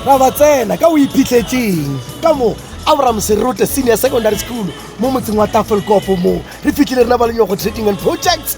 ra ba tsena ka o iphitlhetseng ka moo abraham serote senior secondary school mo motseng wa tafelkopo moo re fitlhile rena ba lenyogo trading and projects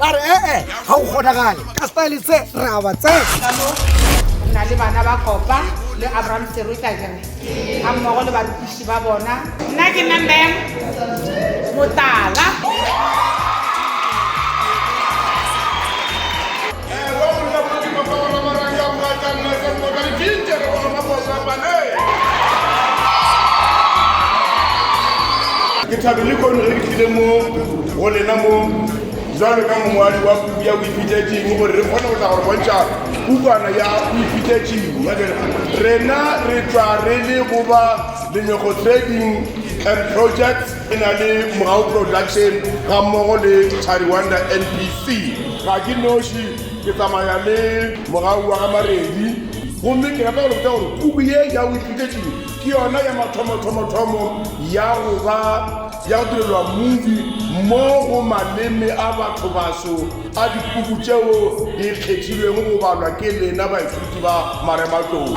ba re ee eh, ga go kgonagale ka style se re a ba tse na le bana ba kopa le abraham tsero ka jere ga mmogo le barutiši ba bona nna ke nna mem motala ke thabile kono ge ke tlile mo go lena mo jalo ka mongwadi wa puku ya boiphitetšing gore re kgone go tla gore bontšha pukwana ya boiphitetšing ya bjale rena re tšwa re le go ba lenyego trading and projects e na le mogao production ga mmogo le tariwanda nbc ga ke noši ke tsamaya le mogau wa ga maredi gomme ke rata go lebotsa gore puku ye ya boiphitetšing ke yona ya mathomo-thomo-thomo ya go ba Ya direlwa mubi mo go maleme a bathobaso a dipuku tšeo di kgethilwego go balwa ke lena baithuti ba Marematlou.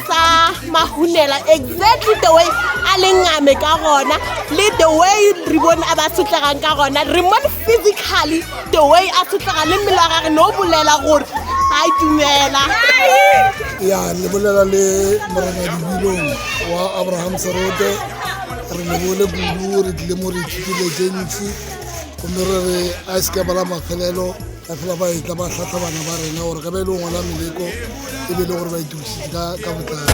tsa mahunela exactly the way a lengame ka gona le the way re bone a ba sotlegang ka gona re mone physically the way a sotlega le mmele wa gage ne o bolela gore ga e dumela ya le bolela le morena dibilong wa abraham serote re lebole kudu re tlile mo re ithutile tse ntsi gomme re re a se ka bala mafelelo Ba fela ba etla ba hlahla bana ba rena gore ge ba ile go ngwala meleko e be e le gore ba itokišitše ka ka botlalo.